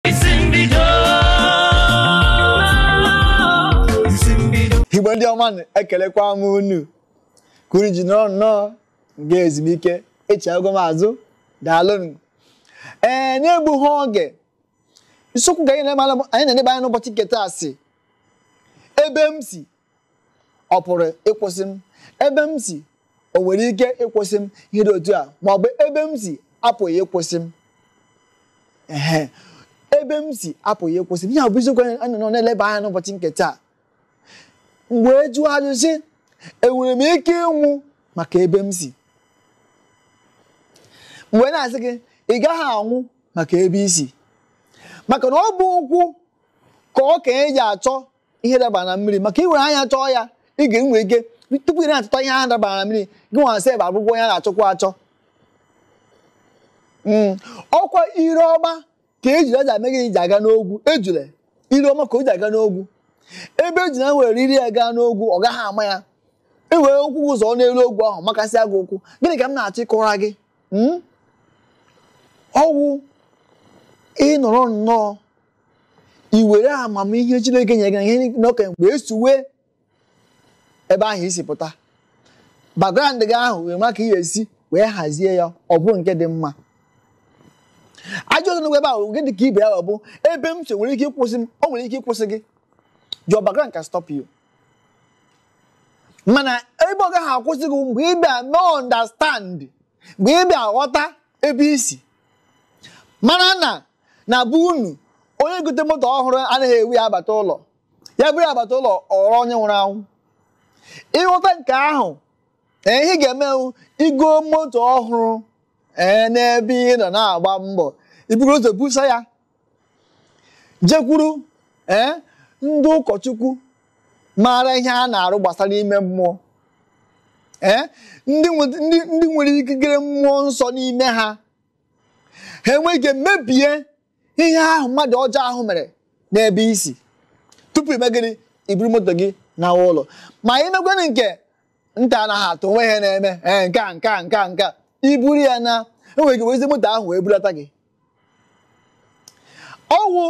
isi mbido isi mbido igbo ndị ọma nụ, ekelekwa m unu ka unu ji nọrọ nnọọ m gaa ezumike echighago m azụ daalụnụ ee na-egbughị oge isiokwu ka anyị na-eleba anya n'ụbọchị nke taa sị ebe m si ọ pụrụ ịkwụsị m ebe m si o nwere ike ịkwụsị m ihe dị otu a ma ọ bụ ebe m si apụghị ịkwụsị m ehe ebe m si apụghị ịkwụsị m ihe a bụ isiokwu anyị nọ na-eleba anya n'ụbọchị nke taa mgbe e jụọ ajụjụ sị enwere m ike ịnwụ maka ebe m si m wee na-asị gị ị gaghị anwụ maka ebe i si maka na ọ bụ ụkwụ ka okenye ji achọ ihe dabara na mmiri maka i were anya chọọ ya ị ga-enwe ike tupu ị na-achọta ihe ahụ dabara na mmiri gị nwa sef abụgwọ onye a na-achọkwa achọ hmm. ọ kwa ire ọma ka ejula ji eme gịnị ji aga n'ogwu ejula ire ọma ka o ji aga n'ogwu ebe ejula were ire ya gaa n'ogwu ọ gaghị ama ya i were ụkwụ zọọ n'elu ogwu ahụ makasịa gị ụkwụ gịnị ka m na-achọ ịkọra gị hmm? ọ wụ ị nọrọ nnọọ i were amamihe Chineke nyere gị na ihe n'oke mgbe esuwe ebe ahụ i si pụta background gị ahụ wee ma ka ị ga-esi wee hazie ya ọ bụrụ nke dị mma ajọ ọzọ ebe ahụ gị dị ka ibe ya ọ bụ ebe m si o nwere ike ịkwụsị m o nwere ike ịkwụsị gị your background can stop you mana ebe ọ gaghị akwụsị gị mgbe ị bịa mee understand mgbe ị bịa ghọta ebe i si mara na na be unu onye gote moto ọhụrụ anaghị ebu ya abata ụlọ ya buru ya bata ụlọ ọ ghọrọ onye nwụrụ anwụ ị ghọta nke ahụ ee ihe ị ga-eme wụ igo moto ọhụrụ ee n'ebe ị nọ na-agba mbọ i buru ụzọ busa ya jekwuru ee ndị ụkọchukwu maara ihe a na-arụ gbasara ime mmụọ ee ndị nwere ikikere mmụọ nsọ n'ime ha ha enwee ike mebie ihe ahụ mmadụ ọjọọ ahụ mere n'ebe i si tupu i mee gịnị i buru moto gị naa ụlọ ma i mekwanụ nke nta anaghị atụ o nwe ihe na-eme ee nke a nke a nke a nke a i buru ya naa e nwere ike wezi moto ahụ wee bulata gị ọ wụ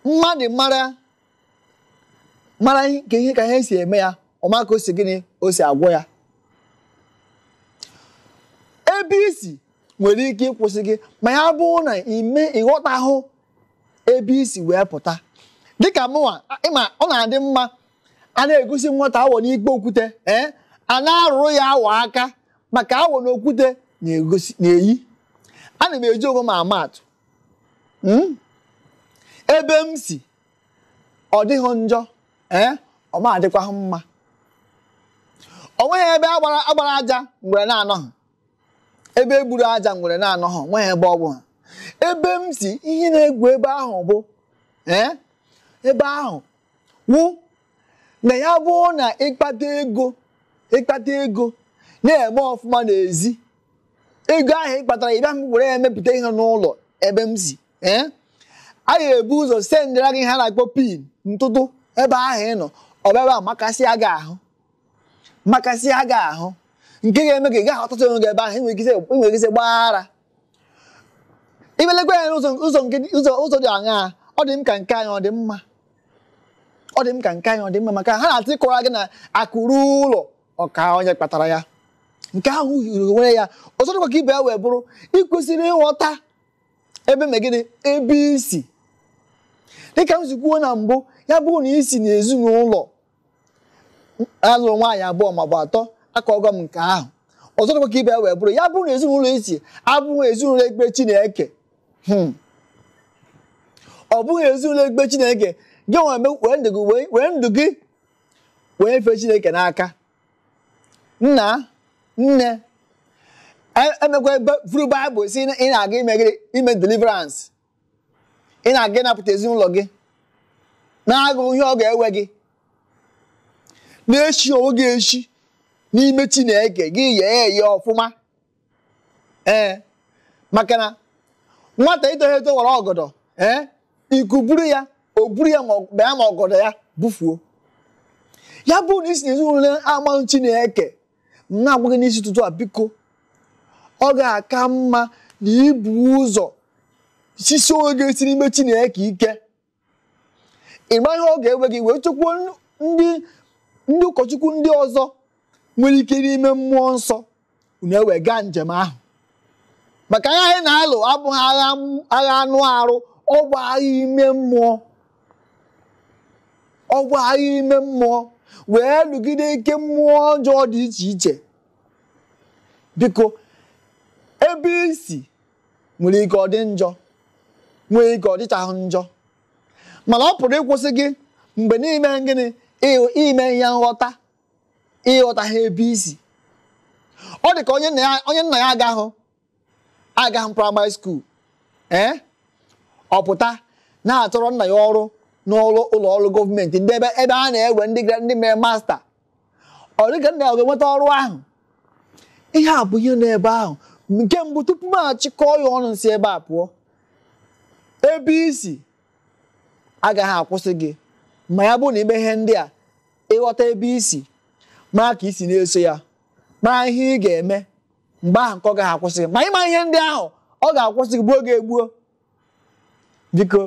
mmadụ mara mara ka ihe ka ihe si eme ya ọ ma ka o si gịnị o si agwọ ya ebe i si nwere ike ịkwụsị gị ma ya bụrụ na ị ghọtahụ ebe i si wee pụta dịka mụnwa ị ma ọ na-adị mma a na-egosi nwata awọ n'ikpo okwute ee a na-arụrụ ya awọ aka maka awọ na okwute na-eyi ana m eji onwe m ama atụ Hmm? ebe m si ọ dịghị njọ ee ọ ma adịkwaghị mma o nweghị ebe a gbara a gbara aja ngwere na-anọghị ebe e gburu aja ngwere na-anọghị o nweghị ebe ọ bụghị ebe m si ihe na-egwu ebe ahụ bụ ee ebe ahụ wụ na ya bụrụ na ị kpata ego ị kpata ego na-eme ọfụma n'ezi ego ahụ ị kpatara ị bịa iwere ya emepụta ihe n'ụlọ ebe m si ee a ga-ebu ụzọ sendịra gị ihe a na-akpọ pin ntụtụ ebe ahụ ị nọ ọ bịa ebe a makasịa gị ahụ makasịa gị ahụ nke ga-eme ka ị gaghị aghọta onwe gị ebe ahụ i nwere ike isi gbaa ara ị bịa lekwa ya n'ụzọ dị aṅaa ọ dị m ka nke anyị ọ dị mma ọ dị m ka nke anyị ọ dị mma maka ha na-atụ ịkọrọ gị na akụ ruo ụlọ ọ kaa onye kpatara ya nke ahụ yiri onwe ya ọzọ dịkwa ka ibe ya wee bụrụ i kwesịrị ịghọta ebe i me gịnị ebe i si dịka m si kwuo na mbụ ya bụrụ na i si na ezinụlọ a lụrụ nwaanyị abụọ maọbụ atọ akaago m nke ahụ ọzọ dịkwa ka ibe ya wee bụrụ ya bụrụ na ezinụlọ i si abụghị ezinụlọ ekpe Chineke hmm. ọ bụghị ezinụlọ ekpe Chineke gị were ndụ gị were ndụ gị wee nyefee Chineke n'aka nna nne emekwa e, e vuru baịbụl sị ị na-aga ime deliverance ị na-aga ịnapụta ezinụlọ gị na-agụghị ihe ọ ga-ewe gị na-esighị onwe gị esi n'ime Chineke gị yee eye ọfụma ee maka na nwata etoghị eto wara ọgọdọ ee ikuku buru ya o buru ya ma ya ma ọgọdọ ya bufuo ya bụrụ na i si na ezinụlọ amaghị Chineke na-agwa gị n'isi ụtụtụ a biko ọ ga-aka mma na i bu ụzọ sisie onwe gị esi n'ime Chineke ike ị ma ihe ọ ga-ewe gị wee chọkwuo ndị ndị ụkọchukwu ndị ọzọ nwere ike n'ime mmụọ nsọ unu ewee gaa njem ahụ maka agha anyị na-alụ abụghị agha anụ arụ ọ bụ agha ime mmụọ ọ bụ agha ime mmụọ wee lụgide ike mmụọ ọjọọ dị iche iche biko ebe i si nwere ike ọ dị njọ nwere ike ọ dịchaghị njọ mana ọ pụrụ ịkwụsị gị mgbe na i me gịnị i nweghị nghọta ị ghọtaghị ebe i si ọ dị ka onye nna ya agahụ agaghị praịmarị skuul ee eh? ọ pụta na-achọrọ nna ya ọrụ n'ụlọ ụlọ ọrụ gọọmenti ndị ebe ebe a na-ewe ndị ndị mere masta ọ dịka nna ya ọ ga-enweta ọrụ ahụ ihe a bụ ihe n'ebe ahụ nke mbụ tupu m achịkọọ ya ọnụ si ebe a pụọ ebe i si agaghị akwụsị gị ma ya bụrụ na i mee ihe ndị a ịghọta ebe i si mara ka i si na-eso ya mara ihe ị ga-eme mgbe ahụ nke ọ gaghị akwụsị gị ma ịma ihe ndị ahụ ọ ga-akwụsị gị gbuo gị egbuo biko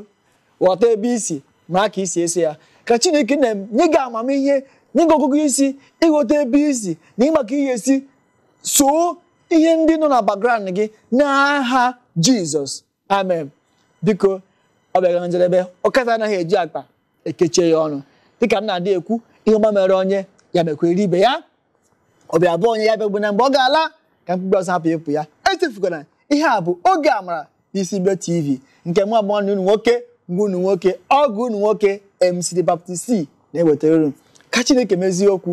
ghọta ebe i si mara ka i si eso ya ka chineke nna nye gị amamihe nye gị ọgụgụ isi ịghọta ebe i si na ịma ka ị ga-esi soo ihe ndị nọ na background gị n'aha jizọs amen biko ọ bịara na njedebe ọkata anaghị eji akpa ekechie ya ọnụ dịka m na-adị ekwu ihe ọma mere onye ya mekwere ibe ya ọ bịa be onye ya abịagbuna mgbe ọ ga-ala ka mkpumkpu azụ hapụ ịpụ ya echefukwana ihe a bụ oge amara n'isi igbo tv nke mụ bụ nwanne unu nwoke nwa unu nwoke ọgọ unu nwoke mc the baptist na-ewetara unu ka chineke mezie okwu